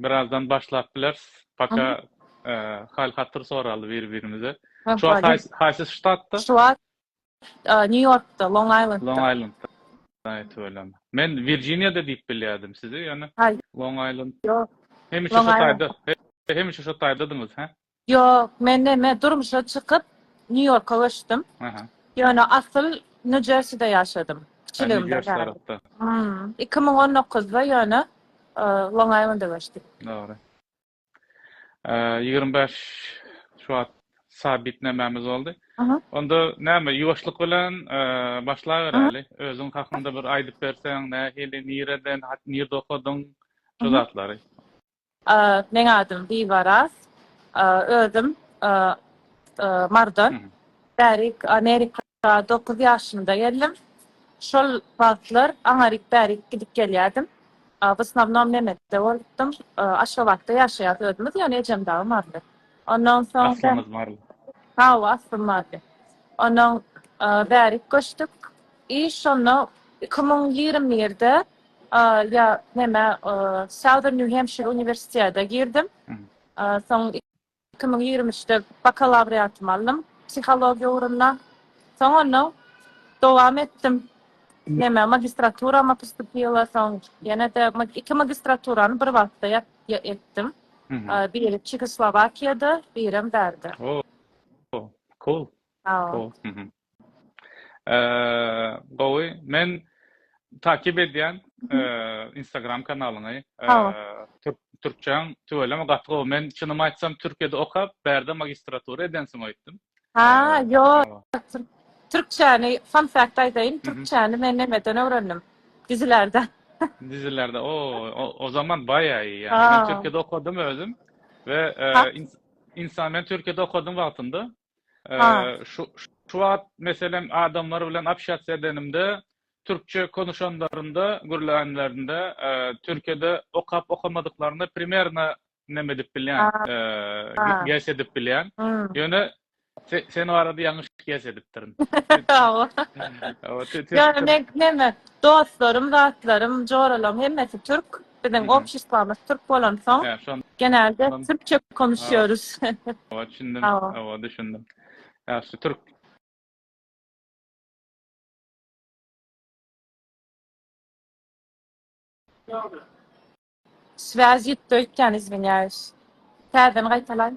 Birazdan başlap bileris. Paka hal hatır soraly bir birimize. Şu wagt haýsy ştatda? Şu wagt New Yorkda, Long Islandda. Long Islandda. Aýt welem. Men Virjiniýada diýip bilýärdim sizi, ýöne Long Island. Ýok. Hemişe şu taýda, hemişe şu taýdadyňyz, hä? Ýok, men neme, durmuşa çykyp, Nýu-Ýorka göçdüm. Aha. Ýöne asyl Nýu-Jerside ýaşadym. Ha, Kiçiligimden Nýu-Jersi bäri. tarapda. Hum, iki müň on dokuzda ýöne e, Long-Aýlanda göçdük. Dogry. Eee, ýigrimi bäş şu wagt sabit nämämiz boldy. Aha. Onda näme, ýuwaşlyk bilen, eee, başlaberäli. Özüň hakynda bir aýdyp berseň, nähili, nireden, hat, nirde okadyň, şu Aha. zatlary. Meň adym Bibaraz. Özüm Marydan. Bärik Amerika dokuz ýaşymda geldim. Şol wagtlar aňaryk bärik gidip gelýärdim. W osnownom Memede bolupdym. Aşgabatda ýaşaýarys özümiz, ýöne ejem dagy maryly. Ondan soň. Aslyňyz maryly? Hawa, aslym maryly. Ondan bärik göçdük. I şonda iki müň ýigrimi birde A, ýa, näme, e, Southern New Hampshire uniwersitete girdim. A, soň iki müň ýigrimi üçde bakalawriatymy aldym psihologiýa ugrunda. Soň onnoň dowam etdim. Näme, magistraturama postupila, soň ýene-de iki magistraturany bir wagtda ýa, ýa etdim. A, biri Çehoslowakiýada, birem bärde. O, o, cool, Hao. cool. Mhm. Gowy. Men takip edýän Instagram kanalyňy. Türkçäň tüweleme gaty gowy. Men çynymy aýtsam Türkiýede okap, bärde magistratura edensiň öýtdüm. Ha, ýok. Türkçäni fun fact aýdaýyn, türkçäni men nemeden öwrendim? Dizilerden. Dizilerde. O, o zaman baýa iyi ýa. Men Türkiýede okadym özüm we insan men Türkiýede okadym wagtynda Şu wagt, meselem, adamlar bilen obşatsiýa edenimde, türkçe konuşanlarynda, gürlänlerinde, Türkiýede okap-okamadyklaryny primerno neme edip bilýän, gess edip bilýän. Ýöne sen barada ýalňyş gess edipdirin. Ýöne meň neme, dostlarym, zatlarym, joralaryň hemmesi türk. Biziň obşestwamyz türk bolansoň, genelde türkçe konuşýarys. Owa, düşündim. Owa, düşündim. Ýagşy, türk. Swýaz ýitdi öýtýän, izwinýaýus. Täzeden gaýtalaý.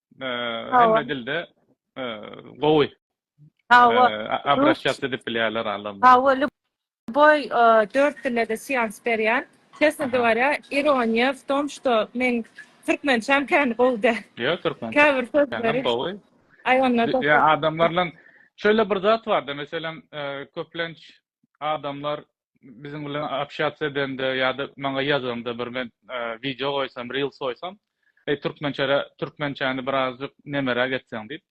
Hemme dilde gowy. Hawa. Abraşýat edip bilýärler alymlar. Hawa, lýuboý dört dilde-de seans berýän. Çestno gowarýa, ironiýa w tom, što meň türkmençäm kän gowy däl. Ýok, türkmençäm. Käbir sözleri gowy. Aý onda. Ýa adamlar bilen şeýle bir zat bar-da, meselem, köplenç adamlar biziň bilen obşatsiýa edende ýa-da maňa ýazanda bir men wideo goýsam, reels goýsam, eý türkmençe türkmençäni birazjyk nemeräk etseň diýip.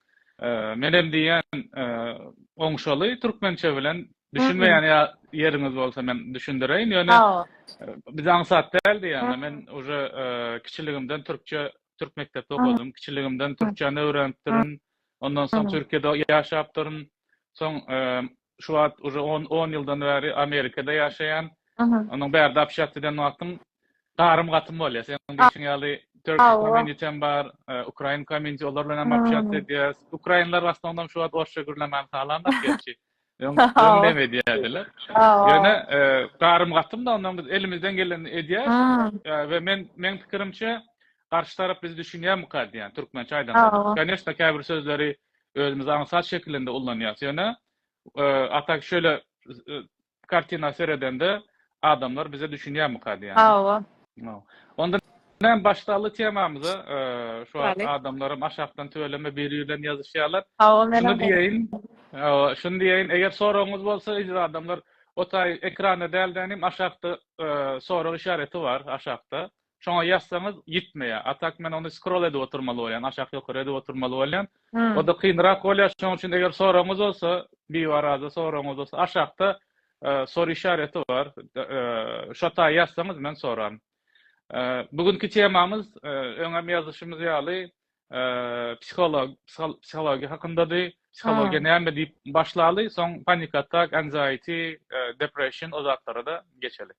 Men hem diýýän, oňşaly türkmençe bilen düşünmeýän ýeriňiz bolsa men düşündireýin. Ýöne biz aňsat däl diýýän. Men uje kiçiligimden türkçe türk mekdepde okadym. Kiçiligimden türkçäni öwrenipdirin. Ondan soň Türkiýede ýaşapdyryn. Soň şu wagt uje on on ýyldan bäri Amerikada ýaşaýan. Onuň bärde apşýat eden wagtym garym gatym bolýar. Seniň diýşiň ýaly Turkish community bar, Ukrain community olar bilen hem apşýat edýäs. Ukrainler w aslanam şu wagt orsça gürlemän halanok gerçi. Öň öňdem edýärdiler. Ýöne garym gatym da ondan biz elimizden gelenini edýäs. We men meň pikirimçe garşy tarap bizi düşünýärmika diýýän türkmençe aýdanda. Koneşna käbir sözleri özümizi aňsat şekilinde ullanýas ýöne a tak şöyle kartina seredende adamlar bize düşünýärmika diýýän. Hawa. Onda näme başlally temamyza şu adamlarym aşakdan tüweleme biri bilen ýazyşýarlar. Şuny diýeýin. Şuny diýeýin eger soragyňyz bolsa eziz adamlar o taý ekranda dälde inim aşakda sorag işareti bar aşakda. Şoňa ýazsaňyz ýitmeýär. A tak men ony skrol edip oturmaly bolýan, aşak ýokary edip oturmaly bolýan. Oda kynrak bolýar. Şoň üçin eger soragyňyz bolsa, biwaraza soragyňyz bolsa aşakda soru işareti bar. Şo taý ýazsaňyz men soran. Bu günki temamyz öňem ýazyşymyz ýaly psiholog psihologiýa hakyndady. Psihologiýa näme diýip başlaly, soň panik atak, anxiety, depression o zatlara-da geçeli.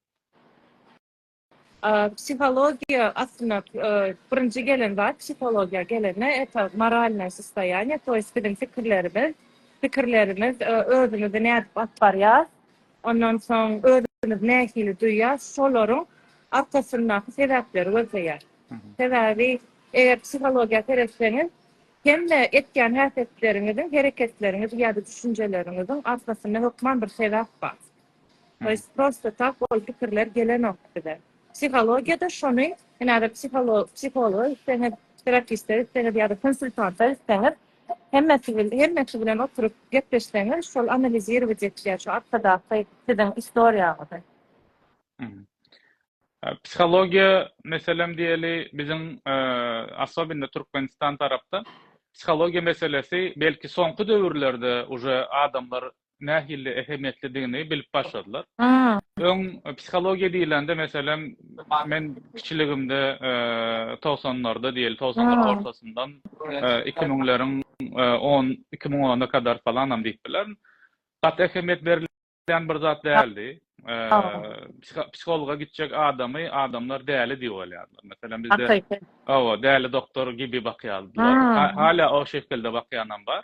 Psihologiýa aslynda birinji gelen zat psihologiýa gelende eta moralnaý sostoýaniýe to ýest biziň pikirlerimiz, pikirlerimiz özümizi nädip alyp barýas, ondan soň özümizi nähili duýýas şolaryň arkasyndaky sebäpleri gözleýär. Sebäbi eger psihologiýa seretseňiz hemme etýän häsiýetleriňiziň, hereketleriňiziň ýa-da düşünjeleriňiziň arkasynda hökman bir sebäp bar. Biz prosta tak ol pikirler gelenok bize. Psihologiýada şony hünärli psihologa gitseňiz, terapiste gitseňiz ýa-da konsultanta gitseňiz, hemmesi bilen, hemmesi bilen oturyp gepleşseňiz, şol analizirować etýär şu arkadaky siziň istoriýaňyzy. Psihologiýa meselem diýeli, biziň asobinda Türkmenistan tarapda psihologiýa meselesi belki soňky döwürlerde uje adamlar nähili ähmiýetlidigini bilip başladylar. Öň psihologiýa diýlende, meselem, men kiçiligimde, togsanlarda diýeli, togsanlaryň ortasyndan iki müňleriň on, iki müň ona kadar falanam diýip bilerin, gaty ähmiýet berilýän bir zat däldi. Psihologa gitjek adamy adamlar däli diýip alýardylar. Meselem, bizde, hawa, däli doktor gibi bakýardylar. Hälä o şekilde bakýanam bar.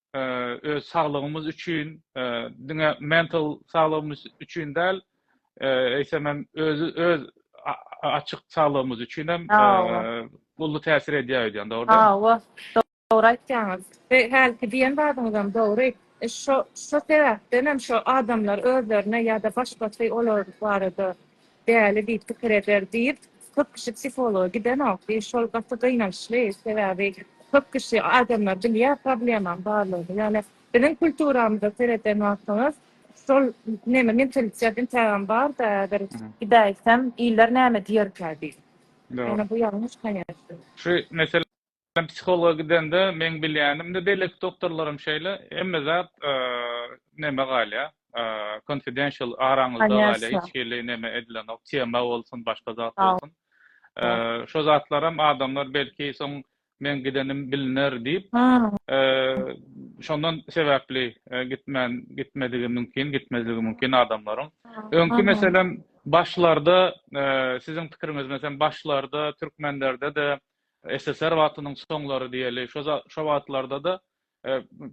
öz saglygymyz üçin, diňe mental saglygymyz üçin däl, eýsem hem özi öz açyk saglygymyz üçin hem uly täsir edýär öýdýän, dogrumy? Hawa, dogry aýtýaňyz. We hälki diýen zadyňyz hem dogry. Şo sebäpden hem şo adamlar özlerine ýa-da başgasy olar barada Däli diýip pikir eder diýip köp kişi psihologa gidenok diýip şol gaty gynançly sebäbi köp kişi adamlar bilýär problemam barlygyny ýöne biziň kulturamyza sereden wagtyňyz şol neme mentalitet intägem barda bir gidäýsem iller näme diýerkä diýip ýöne bu ýalňyş konýaçny. Şu mesele Men psihologa gidende meň bilýänim, indi beýleki doktorlaram şeýle, hemme zat neme galýar, confidential, araňyzda galýar, hiç hili neme edilenok, tema bolsun, başga zat bolsun. Şo zatlaram adamlar belki soň meň gidenim biliner diýip, şondan sebäpli gitmän, gitmedigi mümkin, gitmezligi mümkin adamlaryň. Öňki meselem, başlarda, siziň pikiriňiz, meselem, başlarda türkmenlerde-de SSR wagtynyň soňlary diýeli, şo wagtlarda-da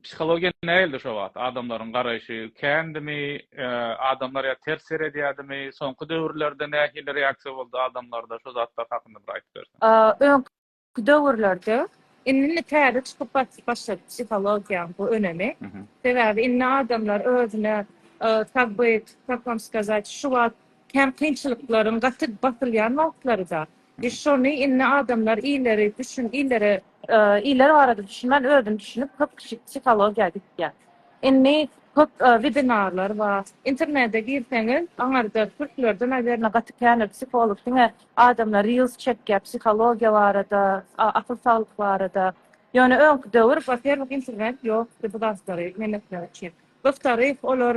psihologiýa nähildi şo wagt? Adamlaryň garaýşy kändimi? Adamlar ýa ters seredýärdimi? Soňky döwürlerde nähili reaksiýa boldy adamlarda? Şo zatlar hakynda bir aýdyp berseň. Öňki döwürlerde, indi-indi täze çykyp başlady psihologiýanyň bu önemi. Sebäbi indi adamlar özüne tak byt, tak wam skazat, şu wagt kän kynçylyklaryň gaty basylýan wagtlary-da. Biz şony indi adamlar illeri düşün illere iller barada düşünmän özüni düşünip köp kişi psihologiýa gitýä. Indi köp webinarlar bar. Internede girseňiz aňarda türklerde nawerno gaty känir psiholog diňe adamlar reels çekýä psihologiýa barada akyl saglyk barada. Ýöne öňki döwür waferwih internet ýokdy bu zatlary men etmek üçin. Gyztaryh olar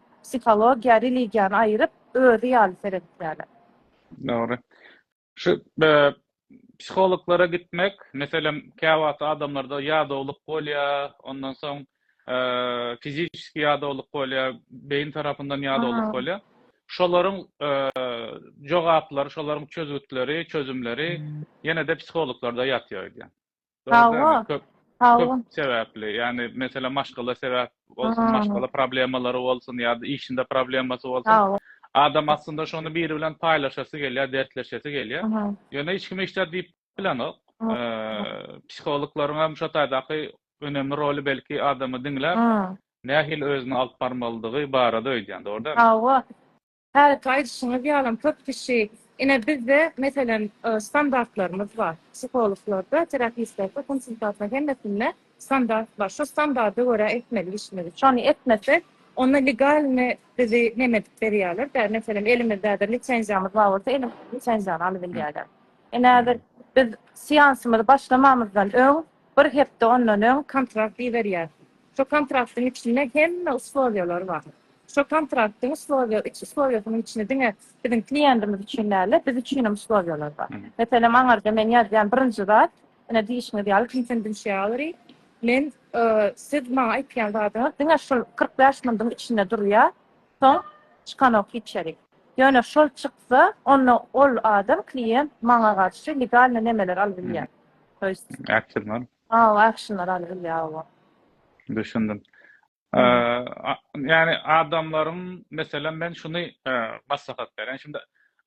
psihologiýa, religiýany aýyryp, özi ýaly seredýärler. Dogry. Şu psihologlara gitmek, meselem, käwagt adamlarda ýadawlyk bolýar, ondan soň fiziki ýadawlyk bolýar, beýin tarapyndan ýadawlyk bolýar. Şolaryň jogaplary, şolaryň çözgütleri, çözümleri ýene-de psihologlarda ýatýar öýdýän. Hawa. Hawa. Sebäpli, ýagny meselem maşgala sebäp bolsun, maşgala problemalary bolsun ýa-da işinde problemasy bolsun. Adam aslynda şony biri bilen paýlaşasy gelýär, dertleşesi gelýär. Ýöne hiç kim hiç zat diýip bilenok. Psihologlaryň hem şo taýdaky önemli roly belki adamy diňläp, nähili özüni alyp barmalydygy barada öýdýän, dogry dälmi? Hawa. Häzirki aýdyşyňyz ýalam köp kişi, ine bizde meselem standartlarymyz bar, psihologlarda, terapistlerde, konsultantlar hemmesinde standart bar, şo standarda görä etmeli işimizi, şony etmesek onda legalny bizi neme edip berýärler dä, meselem elimizde häzir lisenziýamyz bar bolsa elimizde lisenziýany alybilýärler. Ine häzir biz seansymyzy başlamamyzdan öň bir hepde ondan öň kontrakt iberýär. Şo kontraktyň içinde hemme uslowýalar bar. Şo kontraktyň uslowýa, üç uslowýasynyň içinde diňe biziň kliýentimiz üçin däl-de, biz üçinem uslowýalar bar. Meselem, aňyrda men ýazýan birinji zat, ine, diýişiňiz ýaly, konfendensiality. Men, siz maňa aýtýan zadyňyz diňe şol kyrk bäş mundyň içinde durýar, soň çykanok hiç ýeri. Ýöne şol çyksa, onda ol adam, kliýent, maňa garşy legalny nemeler alyp bilýär. To ýest. Äpjil bolup. Hawa actionlar aly bilýär oba. Düşündim. Ýani adamlaryň meselem men şuny maslahat berýän şindi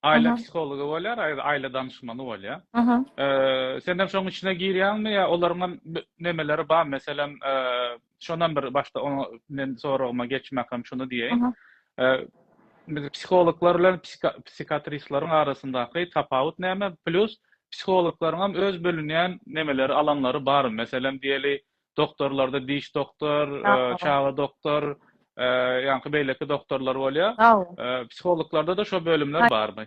aýla psihology bolýar aýla danyşmany bolýar. Sen hem şoň içine girýäňmi ýa olaryň hem nemeleri bar meselem Şondan bir başda oňa men soragyma geçmäkem şuny diýeýin. Biz psihologlar bilen psihiatristleriň arasyndaky tapawut näme? Plus psihologlaryň hem öz bölünýän nemeleri, alanlary bar. Meselem diýeli, doktorlarda diş doktor, çaga doktor, ýaňky beýleki doktorlar bolýar. Psihologlarda-da şo bölümler barmy?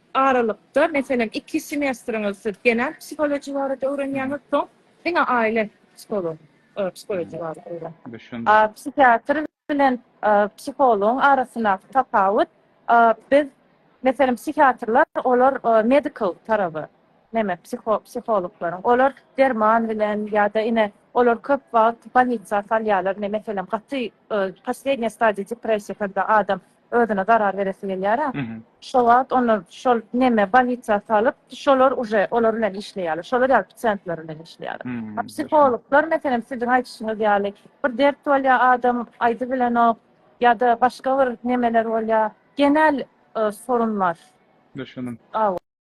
aralykda, meselem, iki semestriňiz siz genetik psihologiýa barada öwrenýäňiz, soň diňe aýle psiholog, psihologiýa barada öwrenýäňiz. Düşündim. Psihiatr bilen psihologyň arasyndaky tapawut, biz, meselem, psihiatrlar, olar medical taraby, neme, psihologlaryň, olar derman bilen ýa-da ine, olar köp wagt bolnitsa salýarlar, ine, meselem, gaty, poslednýa stadiýa depressiýa, kada adam özüne zarar beresi gelýärä. Şo wagt onda şol neme bolnisa salyp, şolar uje olar bilen işleýärler. Şolar ýaly psientler bilen işleýärler. A psihologlar meselem siziň aýdyşyňyz ýaly bir dert bolýar adam aýdy bilenok ýa-da başga bir nemeler bolýar. Genel sorunlar. Düşündim.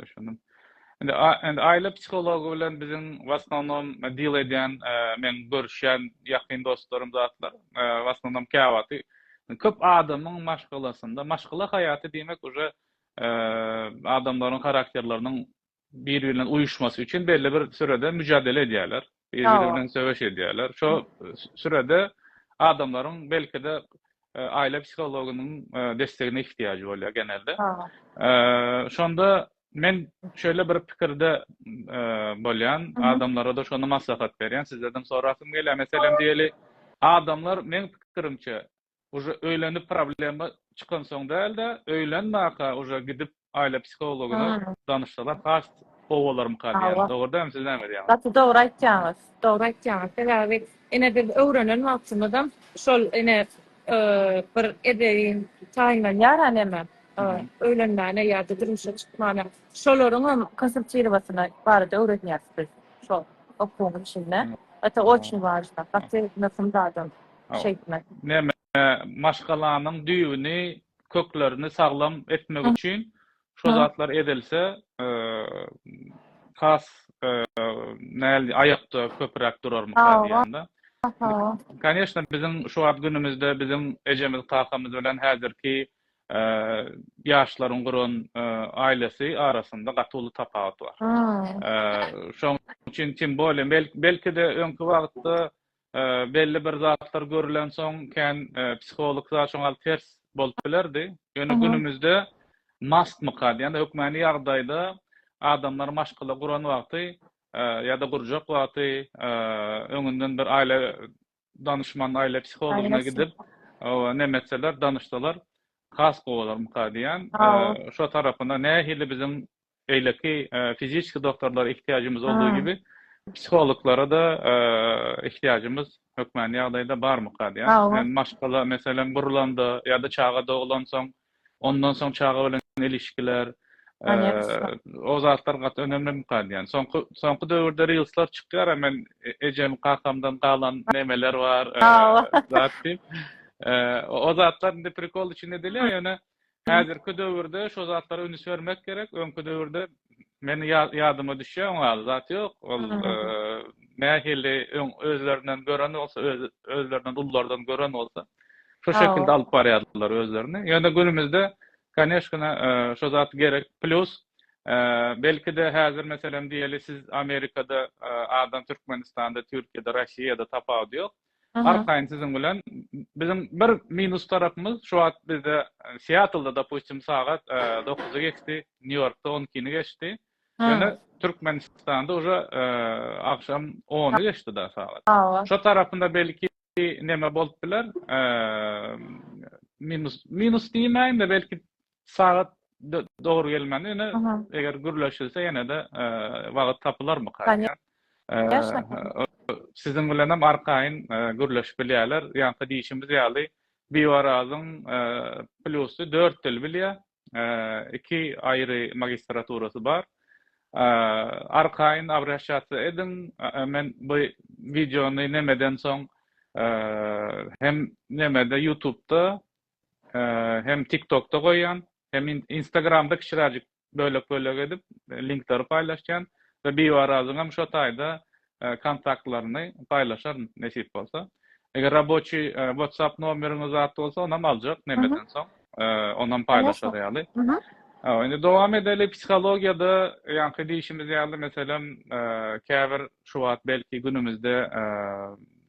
Düşündim. Indi indi aile psihology bilen biziň w asnonom deal edýän men görüşýän ýakyn dostlarym zatlar w asnonom käwagty köp adamyň maşgalasynda maşgala haýaty diýmek uje adamlaryň harakterleriniň bir-biri bilen uýuşmasy üçin belli bir sürede müjadele edýärler. bir-biri bilen söweş edýärler. Şo sürede adamlaryň belki-de aýla psihologynyň destegine ihtiýajy bolýar genelde. Şonda men şeýle bir pikirde bolýan, adamlara-da şony maslahat berýän, sizlerden sorasym gelýär, meselem diýeli, adamlar meň pikirimçe, uje öýlenip problema çykansoň dälde öýlenmaka uje gidip aýla psihologyna danyşsalar has gowy bolarmyka diýýän dogry dämi siz näme diýýäňiz. Gaty dogry aýtýaňyz dogry aýtýaňyz sebäbi ine biz öwrenen wagtymyzam şol ine bir edebiň taýynlanýar a näme öýlenmäne ýada durmuşa çykmana şolaryňam konsultirowasyna barada öwrenýäris biz şol okuwyň içinde ata oçin wajyp gaty möhüm zadam şeýtme. Neme, maşgalanyň düýbüni, köklerini saglam etmek üçin şo zatlar edilse, has näl aýakda köpüräk durarmyka diýýän-de. Koneşna, biziň şu wagt günümizde biziň ejemiz, kakamyz bilen häzirki ýaşlaryň guran aýlasy arasynda gaty uly tapawut bar. Şoň üçin, tim bolýa, belki-de öňki wagtda Belli bir zatlar görülensoň kän psihologda şoňa ters bolup bilerdi. Ýöne günümizde mastmyka diýende hökmany ýagdaýda adamlar maşgala guran wagty ýa-da gurjak wagty öňünden bir aýla danyşman, aýla psihologyna gidip neme etseler, danyşsalar has gowy bolarmyka diýen. Şo tarapyna nähili biziň beýleki fiziki doktorlara ihtiýajymyz olduğu gibi psihologlara da ihtiýajymyz hökmany ýagdaýda barmyka diýýän. Maşgala meselem gurlanda ýa-da çaga doglansoň, ondan soň çaga bilen ilişkiler, o zatlar gaty önemlimika diýýän. Soňky soňky döwürde rilsler çykýar, men ejem, kakamdan galan nemeler bar, zat diýip. O zatlar indi prikol üçin edilýär, ýöne Häzirki döwürde şo zatlara üns bermek gerek, öňki döwürde meni ýadyma düşýär oň ýaly zat ýok. Ol nähili öň özlerinden gören bolsa, öz özlerinden ullardan gören bolsa, şo şekilde alyp barýardylar özlerini. Ýöne günümizde Koneşkina şo zat gerek. Plus belki-de häzir meselem diýeli siz Amerikada adam Türkmenistanda, Türkiýede, Russiýada tapawudy ýok. Arkaýyn siziň bilen biziň bir minus tarapymyz şu wagt bizde e, Seattlda dopustim sagat 9-y e, geçdi, Nýu-Ýorkda 12-ni geçdi. Ýöne Türkmenistanda uje e, agşam 10-y geçdi da sagat. Şu tarapynda belki neme bolup biler? Minus minus diýmäýin-de belki Sagat dogry gelmändir. Ýöne eger gürleşilse ýene-de wagt tapylarmyka? Siziň bilen hem arkaýyn gürleşip bilýärler. Ýa-da diýşimiz ýaly, Biwarazyň plusy dört dil bilýär. Iki aýry magistraturasy bar. Arkaýyn abraşasiýa ediň. Men bu wideony nemeden soň hem nemede ýutubda hem tiktokda goýýan hem instagramda kiçiräjik bölek bölek edip linkleri paýlaşýan we biwarazyňam şo taýda kontaktlaryny paýlaşaryn nesip bolsa eger raboçi whatsapp nomeriňiz zat bolsa onam aljak nemeden soň onam paýlaşar ýaly indi dowam edeli psihologiýada ýaňky diýişimiz ýaly meselem käbir şu wagt belki günümizde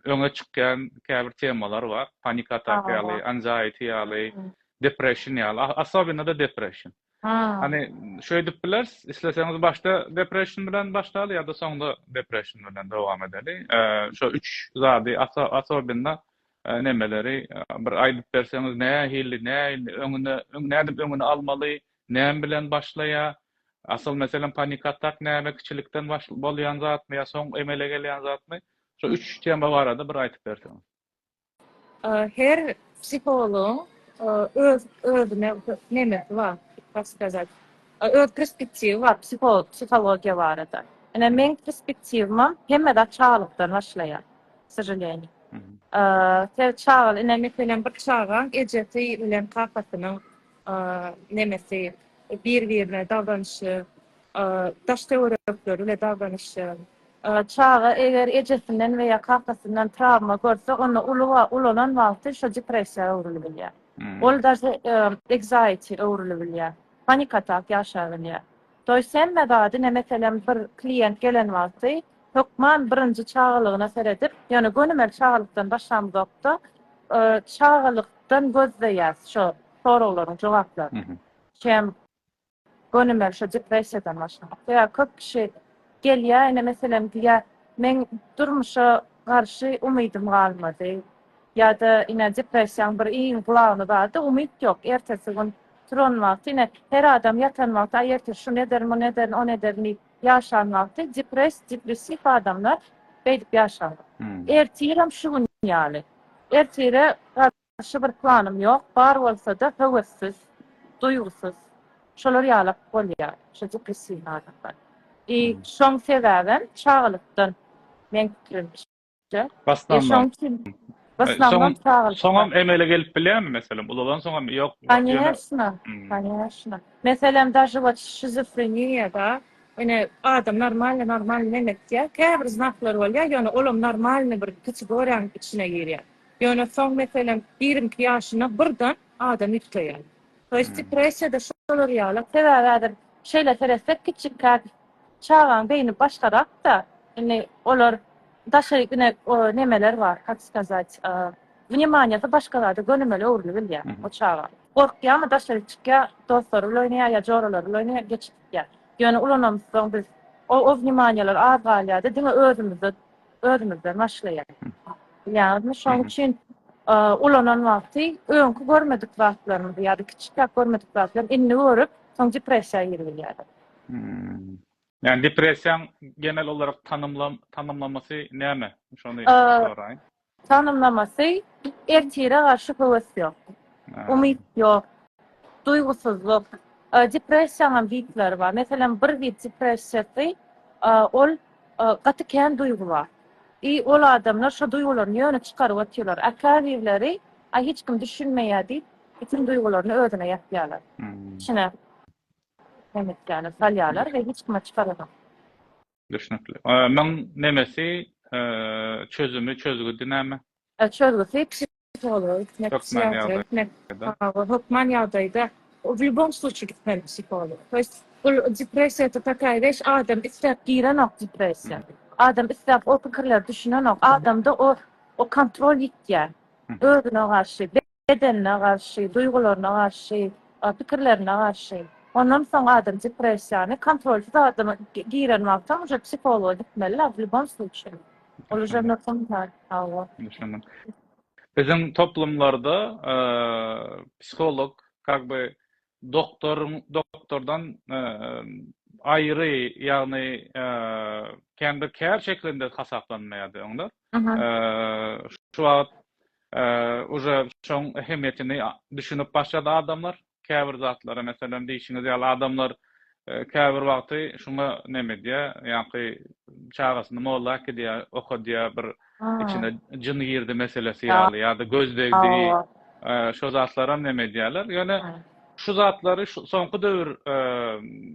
öňe çykýan käbir temalar bar. Panik atak ýaly, anxiety ýaly, depression ýaly, asobinada depression. Hany şeýdip bileris, isleseňiz başda depression bilen başlaly ýa-da soňda depression bilen dowam edeli. Şo üç zady asobinda nemeleri bir aýdyp berseňiz, nähili, nähili öňüne, nädip öňüni almaly, näme bilen başlaýar? Asyl meselem panik atak näme kiçilikden bolýan zatmy ýa soň emele gelýän zatmy? Şu üç tema barada bir aýtyp berseňiz. Her psihologyň öz özüne nemesi bar, tak skazat, öz perspektiwi bar psiholog psihologiýa barada. Ine meň perspektiwimem hemme zat çagalykdan başlaýar, k sožaleniýe. Her çaga, ine meselem bir çagaň ejesi bilen kakasynyň nemesi, bir-birine dagranyşy, daş-töwerekleri we daglanyşy. Çaga eger ejesinden we ýa kakasyndan trawma görse, onda uly we ulalan wagty şo depressiýa öwrülibilýär. Ol daže ekzaiti öwrülibilýär. Panik atak ýaşabilýär. Toýs hemme zady ne meselem bir klient gelen wagty hökman birinji çagalygyna seredip, ýöne gönümel çagalykdan başlamzokda çagalykdan gözleýäs şo soraglaryň jogaplaryny. Şem. Gönümel şo depressiýadan başga. Sebäbi köp kişi gelýär, ine meselem diýýär, meň durmuşa garşy umydym galmady. Ýa-da ine depressiýaň bir iň glawny zady umyt ýok. Ertesi gün turan wagty ine her adam ýatan wagty aý ertir şuny ederin, muny ederin, ony ederin diýip ýaşan wagty depress, depressiw adamlar beýdip ýaşarlar. Ertirem şu gün ýaly. Ertire Başga bir planym ýok, bar bolsa-da höwessiz, duýgusyz, şolar ýalak bolýar, şo depressiwnyý adamlar. I şoň sebäbem çagalykdan, meň pikirimçe. Basnam bar. Basnamam çagalykdan. Soňam emele gelip bilýärmi, meselem, ulalansoňam ýok. Kanyýeşna, kanyýeşna. Meselem, daže wot şizofreniýada, ine, adam normalny, normalny nemetýär, käbir znaklary bolýar, ýöne olam normalny bir kategoriýanyň içine girýär. Ýöne soň meselem ýigrimi iki ýaşyna birden adam ýüpteýär. To ýest depressiýada şolar ýaly. Sebäbi häzir şeýle seretsek kiçikkäk çagaň beýni başgarakda indi olar daşary ine o nemeler bar kak skazat wnýemaniýasy başga zada gönümel öwrüli bilýär o çaga. Gorkýamy daşary çykýa dostlary bilen oýnaýa ýa joralary bilen oýnaýa geç gitýä. Ýöne ulanamyzsoň biz o o wnýemaniýalar az galýada diňe özümizde özümizden başlaýar. Bilýäňizmi, şonuň üçin ulanan wagty öňki görmedik zatlarymyzy ýa-da kiçiräk görmedik zatlary indi görüp, soň depressiýa girip bilýäris. Ýagny depressiýaň genel olarak tanymlamasy näme? Şony soraýyn. Tanymlamasy ertire garşy höwes ýok. Umyt ýok. Duýgusyzlyk. Depressiýanyň hem tipleri bar. Meselem, bir tip depressiýasy ol Gaty kän duýgy bar. I ol adamlar şo duýgularyny ýöne çykaryp otyrlar. A käbirleri, Aý hiç kim düşünmeýä diýip, bütin duýgularyny özüne ýapýarlar. Içine nemetlerini salýarlar we hiç kime çykaranok. Düşnükli. Muň nemesi çözümi, çözgüdi näme? Çözgüsi, psihologa gitmek, Hökman psihiatra gitmek, ýagdaýda. hawa, hökman ýagdaýda w lýubom slutçi gitmeli psihologa. To ýest, bul depressiýa to takaýa weş, adam isläp girenok depressiýa. Adam isläp o pikirlere düşünenok. Adamda o o kontrol ýitýär. Özüne garşy, bedenine garşy, duýgularyna garşy, a pikirlerine garşy. Ondan soň adam depressiýany kontrolsyz adama gi giren wagtam uje psihologa gitmeli la w lýubom slutçi. Olaşanlar soň tar, hawa. Düşündim. Biziň toplumlarda psiholog kak by doktor doktordan aýry ýagny kän bir kär şeklinde hasaplanmaýardy oňlar. Şu wagt uje şoň ähmiýetini düşünip başlady adamlar. käbir zatlara, meselem, diýşiňiz ýaly, adamlar käbir wagty şuňa neme edýär, ýaňky çagasyny molla äkidýär, okadýar, bir içine jyn girdi meselesi ýaly ýa-da göz degdi, şo zatlaram neme edýärler. Ýöne şu zatlary soňky döwür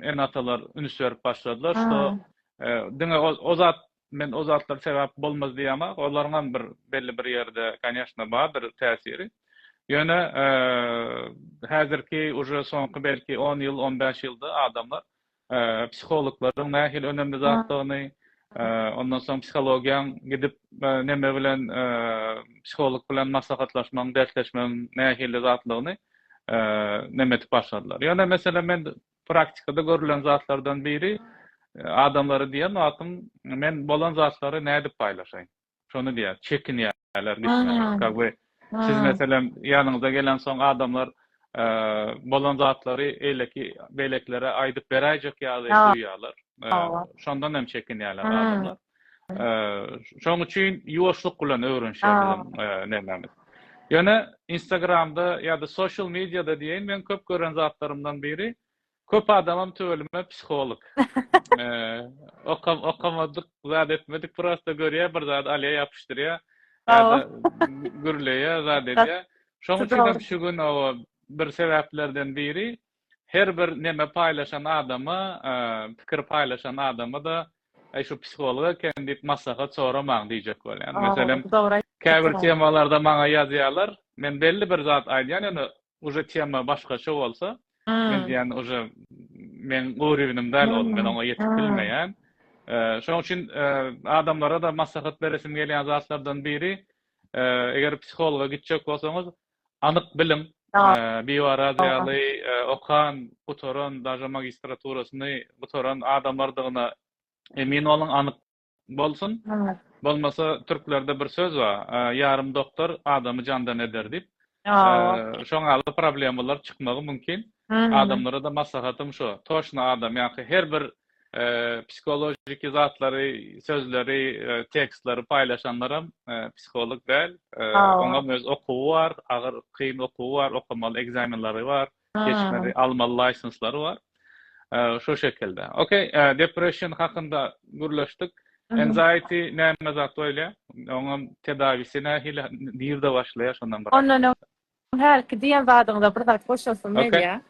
ene-atalar üns berip başladylar, şo diňe o zat Men o zatlar sebäp bolmaz diýemok. Olaryňam bir belli bir ýerde, kanyýeşna, bardyr täsiri. Ýöne häzirki uje soňky belki on ýyl, on bäş ýylda adamlar psihologlaryň nähili önemli zatdygyny, ondan soň psihologiýaň gidip näme bilen psiholog bilen maslahatlaşmagyň, dertleşmegiň nähili zatlygyny näme edip başladylar. Ýöne meselem men Praktikada görülen zatlardan biri, adamlara diýen zatym, men bolan zatlary nädip paýlaşaýyn? Şony diýýär, çekinýärler gitmäge. Как бы siz meselem ýanyňyza gelensoň adamlar bolan zatlary eýleki beýlekilere aýdyp beräýjek ýaly duýýarlar. Şondan hem çekinýärler adamlar. Şoň üçin ýuwaşlyk bilen öwrenişýän nämämiz. Ýöne Instagramda ýa-da social mediada diýen men köp gören zatlarymdan biri köp adamam tüweleme psiholog. Okam okamadyk, zat etmedik prosta görýär bir zat alýa ýapyşdyrýa. Gürleýä zat edýä. Şoň üçin şu gün o bir sebäplerden biri her bir neme paýlaşan adama, pikir paýlaşan adama-da Aý şu psiholog eken diýip maslahat soramaň diýjek bolýan. Meselem, käbir temalarda maňa ýazýarlar, men belli bir zat aýdýan, ýöne uje tema başgaça bolsa, men diýýän uje meň urywynym däl ol, men oňa ýetip bilmeýän. Şonuň üçin adamlara-da maslahat beresim gelýän zatlardan biri, eger psihologa gitjek bolsaňyz, Anyk bilim, biwaraz ýaly okan, gutaran, daže magistraturasyny gutaran adamlardygyna emin boluň, anyk bolsun. Bolmasa türklerde bir söz bar, Ýarym doktor adamy jandan eder diýip. Şoň ýaly problemalar çykmagy mümkin. Adamlara-da maslahatym şo, toşna adam ýa-ha her bir psihologiki zatlary, sözleri, tekstleri paýlaşanlaram psiholog däl. Oňa öz okuwy bar, agyr, kyn okuwy bar, okamaly ekzamenleri bar, geçmeli, almaly laýsenslary bar. Şu şekilde. Okey, depression hakynda gürleşdik. Anxiety näme zat bolýar? Oňam tedawisi nähili, nirde başlaýar şondan bir. Ondan öň hälki diýen zadyňda bir zat goşasym gelýär.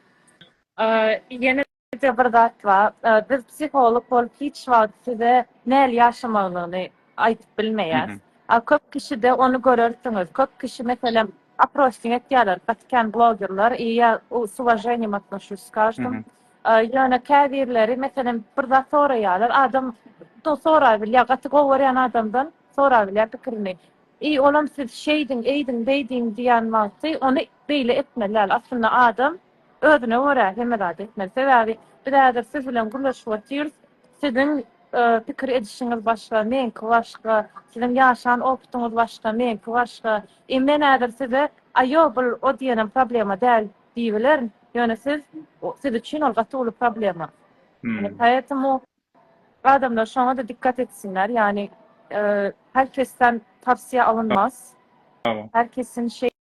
Ýene Birje bir zat bar, biz psiholog bolup hiç wagt size näl ýaşamalyny aýdyp bilmeýäs. A köp kişide ony görersiňiz. Köp kişi meselem aprosting etýärler, gaty kän blogerler i ýa s uwaženýem atnoşuş s každym. Ýöne käbirleri meselem bir zat soraýarlar, adam do sorap bilýär, gaty gowy görýän adamdan sorap bilýär pikirini. I olam siz şeýdiň, eýdiň, beýdiň diýýän wagty ony beýle etmeli däl. Aslynda adam. Özüne görä hemme zady etmeli. Sebäbi biz häzir siz bilen gürleşip otyrys. Siziň pikir edişiňiz başga, meňki başga. Siziň ýaşan opytyňyz başga, meňki başga. Eý men häzir size aýo bul o diýenem problema däl diýibilerin. Ýöne siz siz üçin ol gaty uly problema. Ýöne poetemu adamlar şoňada dikkat etsinler. Ýani her kesden tawsiýe alynmaz. Her kesin şeý.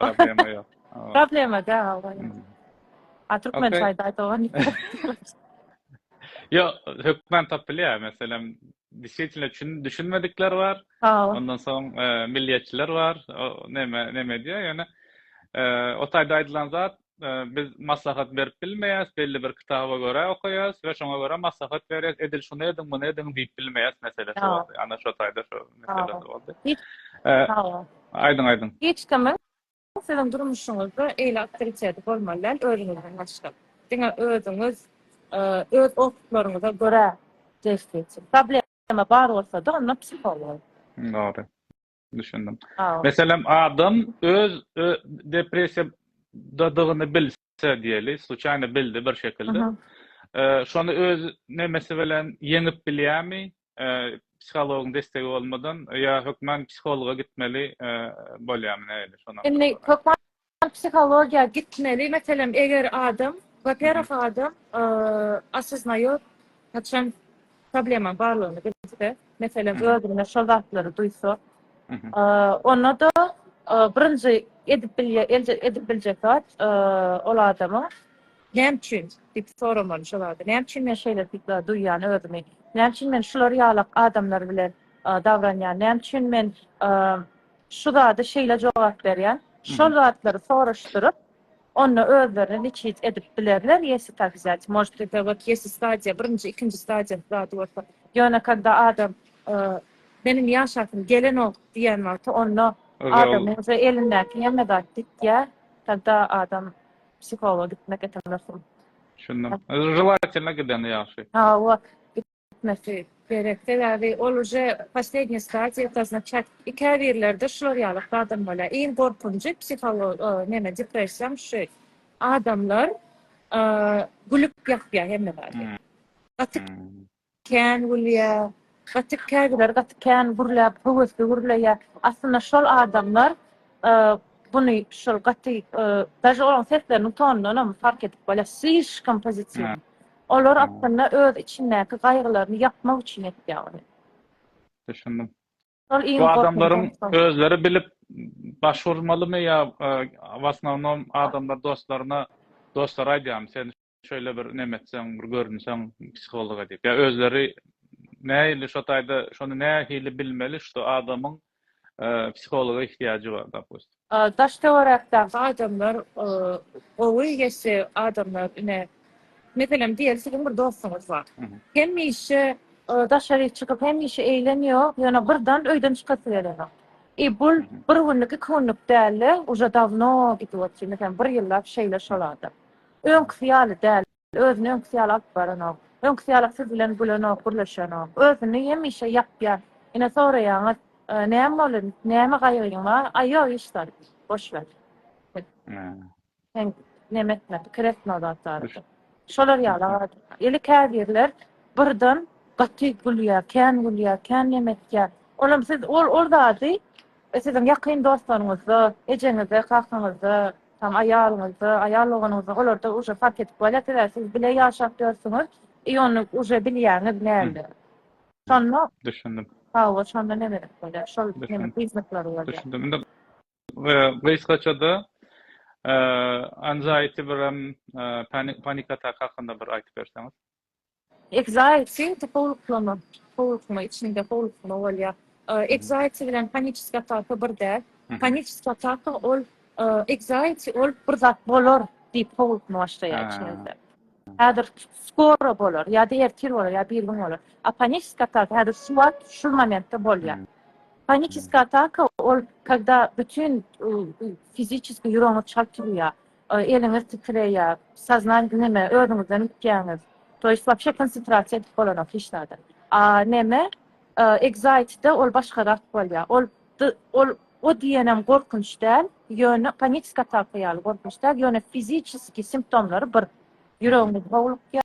Problema ýok. Problema däl hawa. A türkmen çaýda aýdagan. Yo, hökman tapylýar. Meselem, disýetilne çün düşünmedikler bar. Ondan soň milliýetçiler bar. Näme näme diýýär? Ýöne o taýda aýdylan zat biz maslahat berip bilmeýäs, belli bir kitaba görä okaýas we şoňa görä maslahat berýäs, edil şuny ediň, muny ediň diýip bilmeýäs meselesi boldy. Ana şo taýda şo meselesi boldy. Aýdyň, aýdyň. Hiç kimiň siziň durmuşyňyzda eýle awtoriteti bolmaly däl özüňizden başga. Diňe özüňiz öz okytlaryňyza görä jebis geçiň. Problema bar bolsa-da onda psiholog. Dogry. Düşündim. Meselem, adam öz depressiýadadygyny bilse diýeli, sluçaýna bildi bir şekilde. Şony öz nemesi bilen ýeňip bilýärmi? Psihologyň destegi bolmadan ýa hökman psihologa gitmeli bolýarmy näme şonuň? Indi hökman Psihologiýa gitmeli meselem eger adam waperwah adam osoznaýot haçan problemaň barlygyny bilse meselem özünde şol zatlary duýsa onda da birinji edip bilýär edip biljek zat ol adama näme üçin diýip soramaly şol zady näme üçin men şeýle duýýan özümi näme üçin men şular ýalak adamlar bilen dabranýan näme üçin men Şu zady şeýle jogap berýän, şol zatlary soraşdyryp, onda özlerini liçit edip bilerler, ýesi tak wzýat, может ete wot ýesi stadiýa, birinji, ikinji stadiýasy zady bolsa. Ýöne kada adam meniň ýaşasym gelenok diýen wagty, onda adamyň uje elindäki hemme zat gitýär, kada adam psihologa gitmek etemesin. Düşündim. Želatelna gidende ýagşy. Hawa. etmesi gerek sebäbi ol uje poslednýe stadiýatasna çat käbirlerde şular ýaly adam bolýar iň gorkunjy psiholog neme depressiýam şu adamlar gülüp ýapýar hemme zady gaty kän gülýär gaty käbirleri gaty kän gürläp höwesli gürleýär aslynda şol adamlar buny şol gaty daže olaň sesleriniň tonundanam fark edip bolýar slişkom pozitiw Olar aslynda öz içindäki gaýgylaryny ýapmak üçin etýär ony. Düşündim. Şol iň gorkunjy adam. Özleri bilip baş urmalymy ýa w osnownom adamlar dostlaryna dostlary aýdýarmy sen şeýle bir nemetseň bir görünseň psihologa diýip ýa özleri nähili şo taýda şony nähili bilmeli şo adamyň psihologa ihtiýajy bar dopustim. Daş töwerekdäki adamlar gowy geçse adamlar ine meselem diýeli siziň bir dostuňyz bar. Hemişe daşary çykyp hemişe eýlem ýok ýöne birdan öýden çykasy gelenok. I bul bir günlük iki günlük dälde uje dawno gidip otyr meselem bir ýyllap şeýle şol adam. Öňküsi ýaly däl. Özüni öňküsi ýaly alyp baranok. Öňküsi ýaly siz bilen gülenok, gürleşenok. Özüni hemişe ýapýar. Ine soraýaňyz, Näme boldy? Näme gaýgyň bar? Aý ýok hiç zat. Boş wer. Sen neme etme, pikir etme o zat barada. Şolar ýaly adam. Ýeli käbirler birden gaty gülýär, kän gülýär, kän neme etýär. Olam siz ol zady siziň ýakyn dostlaryňyzda, ejeňizde, kakaňyzda, Tam aýalyňyzda, aýal doganyňyzda olarda uje fark edip bolýar, sebäbi siz bile ýaşap ýörsüňiz i ony uje bilýäňiz näme. Şonda Düşündim. Hawa, şonda neme edip bolýar? Şol neme priznaklary bolýar. Düşündim. Indi gysgaça-da anxiety birem panik atak hakynda bir aýdyp berseňiz. Ekzaýti, ýiti howluklama, howlukma, içinde howlukma bolýar. Ekzaýti bilen paniçiskiý ataka bir däl. Paniçiskiý ataka ol ekzaýti ol bir zat bolar diýip howlukma başlaýar içiňizde. Häzir skoro bolar ýa-da ertir bolar ýa-da birigün bolar. A paniçiskiý ataka häzir şu wagt şu momentde bolýar. Paniçiskiý ataka ol kogda bütin fiziçeskiý ýüregiňiz çalt urýar. Eliňiz titreýär. Saznanýa neme özüňizden gitýäňiz. To ýest wapşe konsentrasiýa edip bolanok hiç zada. A neme ekzaýtde ol başgarak bolýar. Ol ol o diýenem gorkunç däl, ýöne panikisk ataka ýaly gorkunç däl, ýöne fiziçeski simptomlary bir. Ýüregiňiz howlukýar.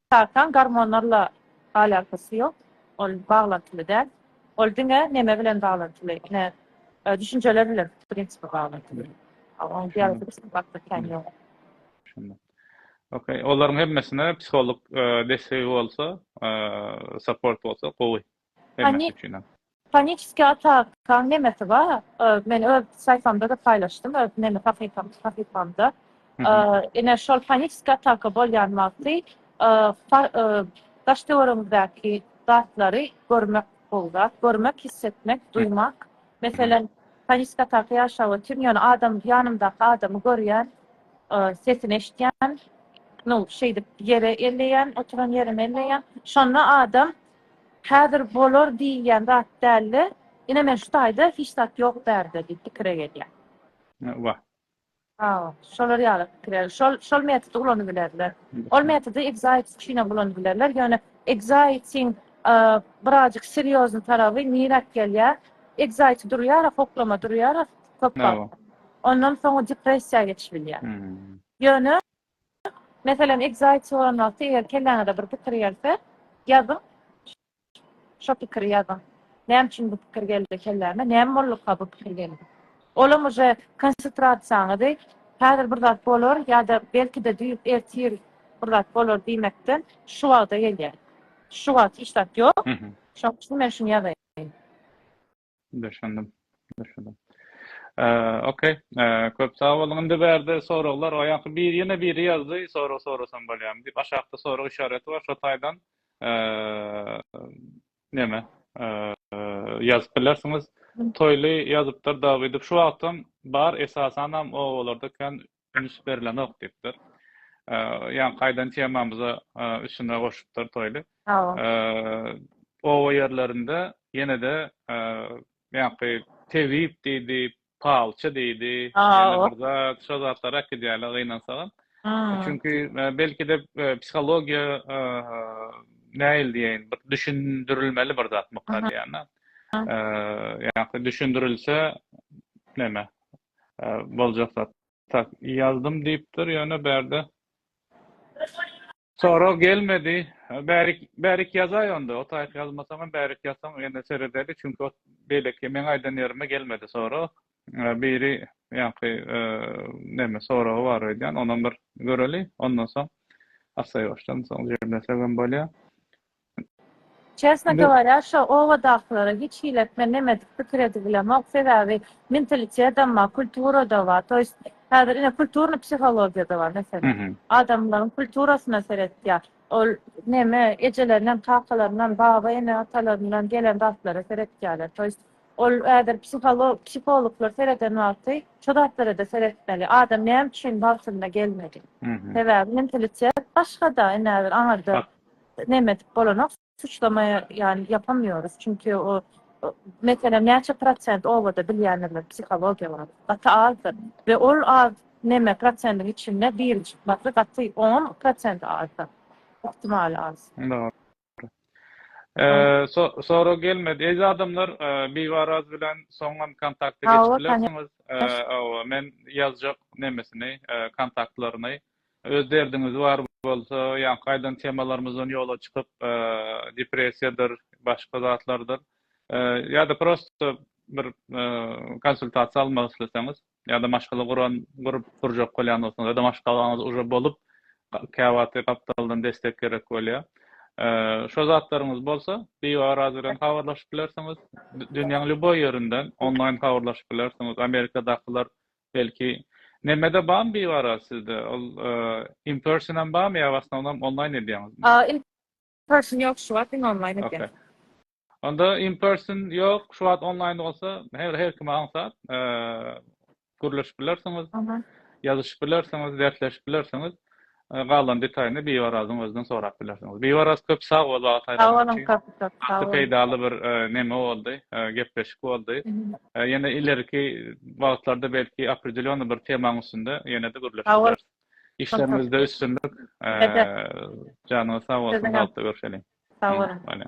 Sarsan gormonlarla alakasy ýok, ol baglantyly däl. Ol diňe neme bilen baglantyly, ine, düşünjeler bilen bu prinsipe baglantyly. Onuň biologiki bakdy kän ýok. Düşündim. Okey, olaryň hemmesine psiholog dessegi bolsa, support bolsa gowy. Hemmäsi üçinem. Paniçiskiý atakaň nemesi bar, men öz saýfamda-da paýlaşdym, öz neme sahypamda. Ine, şol paniçiskiý ataka bolýan wagty daş-töweregiňizdäki zatlary görmek gowy zat. Görmek, his etmek, duýmak. Meselem, paniçiskiý ataka ýaşap otyryn, ýöne adam, ýanymdaky adamy görýän, sesini eşitýän, nu, şeýdip ýere elleýän, oturan ýerimi elleýän. Şonda adam Häzir bolar diýilýän zat dälde, ine men şu taýda hiç zat ýok bärde diýip pikire gelýär. Wah. Hawa, şolar ýaly pikire, şol şol metody ulanybilerler. Ol metody excites üçin hem ulanybilerler, ýöne exciting birazjyk serýozny taraby niräk gelýär? Excited durýar-a, hoklama durýar-a köp wagt. Ondan soň o depressiýa geçibilýär. Ýöne Meselem, exit soran wagty eger kelläňize bir pikir gelse, ýazyň. Şo pikiri ýazyň. Näme üçin bu pikir geldi kelläme? Näme bolduka bu pikir geldi? Olam uje konsetrasiýaňyzy häzir bir zat bolar ýa-da belki-de düýp ertir bir zat bolar diýmekden şu wagta gelýär. Şu wagt hiç zat ýok. Şoň üçin men şuny ýazaýyn. Düşündim. Düşündim. Ok. Köp sag boluň. Indi bärde soraglar. O ýaňky bir ýene biri ýazdy. Sorag sorasam bolýamy diýip. Aşakda sorag işareti bar. Şo taýdan neme ýazyp bilersiňiz. Toýly ýazypdyr Dawidov. Şu wagtam bar. Esasanam obalarda kän üns berilenok diýipdir. Ýa gaýdan temamyza üstüne goşupdyr toýly. Oba ýerlerinde ýene-de ýaňky tebip diýdi, palçy diýdi, ýene bir zat, şo zatlar äkidýärler gynansagam. Çünki belki-de psihologiýa nähili diýeýin, bir düşündirilmeli bir zatmyka diýýän-ä. Ýa-da düşündirilse näme, boljak zat. Tak ýazdym diýipdir ýöne bärde sorag gelmedi. Bärik bärik ýazaý onda otaýyk ýazmasaňam bärik ýazsaň ýene seredeli çünki ot beýleki meň aýdan ýerime gelmedi sorag. Biri ýaňky neme soragy bar öýdýän onam bir göreli ondan soň assaýbaşdan soň jemlesegem bolýa. Çesno govorýa şo obadakylara hiç hilet men nemedik pikir edibilemok sebäbi mentalitetdam bar kulturada bar to ýest häzir ine kulturnyý psihologiýada bar mesele adamlaryň kulturasyna seretýa ol neme ejelerinem kakalarynam baba ene atalaryndan gelen zatlara seretýaler to ýest ol häzir psiholog psihologlar sereden wagty şo zatlarada seretmeli adam näme üçin wagtynda gelmedi sebäbi mentalitet başgada ine häzir aňyrda Neme edip bolanok suçlama yani yapamyoruz çünki o meselem näçe prosent obada bilýänler psihologiýa barada gaty azdyr we ol az neme prosendiň içinde biri çykmasy gaty on prosent azdyr ihtimal az. Sorag gelmedi. Eziz adamlar, Bibaraz bilen soňam kontakta geçip bilersiňiz. Men ýazjak nemesini, kontaktlaryny. Öz derdiňiz bar bolsa, ýaňky aýdan temalarymyzdan ýola çykyp, depressiýadyr, başga zatlardyr, ýa-da prosto bir konsultasiýa almak isleseňiz, ýa-da maşgala guran, gurup gurjak bolýan bolsaňyz, ýa-da maşgalaňyz uje bolup, käwagty gapdaldan destek gerek bolýar. Şo zatlaryňyz bolsa, biaraz bilen habarlaşyp bilersiňiz. Dünýäň lýuboý ýerinden onlaýn habarlaşyp bilersiňiz. Amerikadakylar Belki Nemede bamy bibara sizde ol in person hem bamy ya osnovnom online edýäňizmi? In person ýok şu wagt in online edýän. Onda in person ýok şu wagt online bolsa her her kime aňsat gürleşip bilersiňiz. Ýazyşyp bilersiňiz, dersleşip bilersiňiz. Galan detaýyny Biwarazyň özünden sorap bilersiňiz. Biwaraz köp sag bol wagt aýranyň üçin. Sag boluň köp köp. Sag boluň. Gaty peýdaly bir neme boldy, gepleşik boldy. Ýene ileriki wagtlarda belki opredelýony bir temaň üstünde ýene-de gürleşip bileris. Işleriňizde üstünlik. Janyňyz sag bolsun, bagtly görşeliň. Sag boluň.